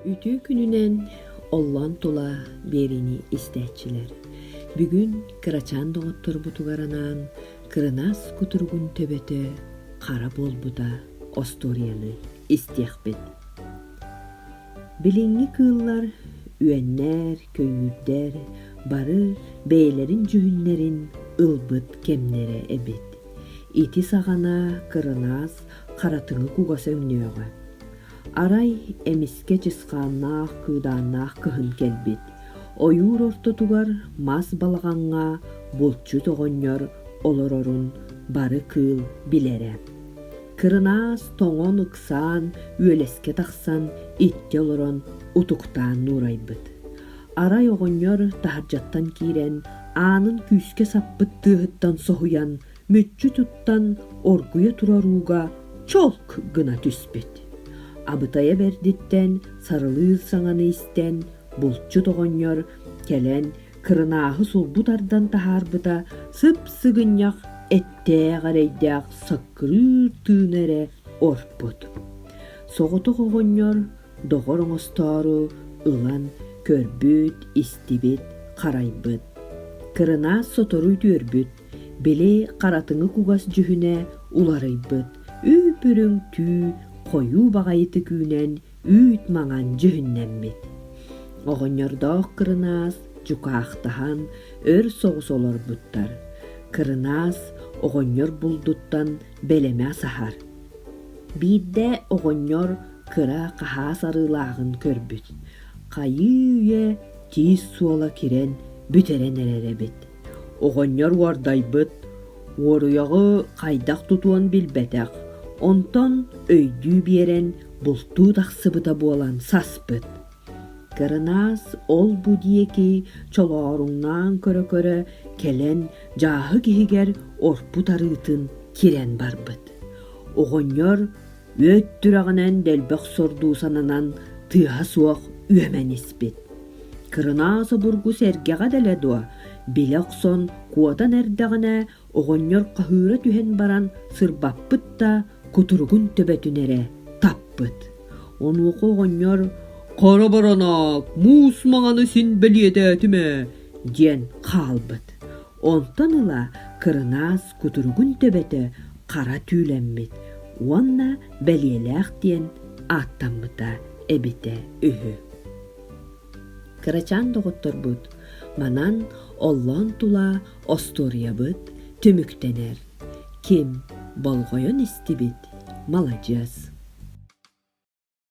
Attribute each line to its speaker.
Speaker 1: Үтүө күнүнэн оллоон тула биэриини истээччилэр. Бүгүн кырачаан доҕотторбутугар анаан кырынаас кутуругун төбөтө хара буолбута остуоруйаны истиэхпит. Билиҥҥи кыыллар үөннэр, көйүүрдэр бары бэйэлэрин дьүһүннэрин ылбыт кэмнэрэ эбит. Ити саҕана кырынаас харатыҥы кугас өҥнөөҕө. Арай эмискэ чысхааннаах кыыдааннаах кыһын кэлбит. Ойуур ортотугар мас балаҕаҥҥа булчут оҕонньор олорорун бары кыыл билэрэ. Кырынаас тоҥон ыксаан, үөлэскэ тахсан, иччэ олорон утуктаан нуурайбыт. Арай оҕонньор таһырдьаттан киирэн, аанын күүскэ саппыт тыаһыттан соһуйан мүччү туттан оргуйа турар ууга чолк гына түспүт абытайа бэрдиттэн сарылыыр саҥаны истэн булчут оҕонньор кэлэн кырынааһы сулбу тардан таһаарбыта сып-сыгынньах эттээх эрэйдээх саккырыыр тыына эрэ орпут соҕотох оҕонньор доҕор оҥостоору ылан көрбүт истибит харайбыт кырынаас сотору үтүөрбүт били харатыҥы кугас дьүһүнэ уларыйбыт, үү-бүрүҥ түү, хойуу баҕайытык үүнэн, үүт маҥан дьүһүннэммит. Оҕонньордоох кырынаас дьукаахтаһан, өр соҕус олорбуттар. Кырынаас оҕонньор булдуттан бэлэмэ саһар. Биирдэ оҕонньор кыра хаһаас арыылааҕын көрбүт. Хайыы-үйэ тиис суола кирэн бүтэрэн эрэр эбит. Оҕонньор уордайбыт, уоруйаҕы хайдах тутуон билбэтэх, онтон өйдүү биэрэн бултуу тахсыбыта буолан саспыт. Кырынаас ол-бу диэки чолооруҥнаан көрө-көрө кэлэн дьааһык иһигэр орпут арыытын кирэн барбыт. Оҕонньор Үүт сүрэҕинэн дэлбэх сордуу сананан тыаһа суох үөмэн испит. Кырынаас обургу сэргэҕэ дэлэ дуо, билэ охсон куотан эрдэҕинэ оҕонньор хаһыыра түһэн баран сырбаппыт да кутуругун төбөтүн эрэ таппыт. Онуоха оҕонньор «Хара Баранак, муус маҥаны син бэлиэтээтим ээ» диэн хаалбыт. Онтон ыла кырынаас кутуругун төбөтө хара түүлэммит уонна бэлиэлээх диэн ааттаммыта эбитэ үһү. Кырачаан доҕотторбут манан оллоон тула остуоруйабыт түмүктэнэр. Ким болҕойон истибит, маладьыас.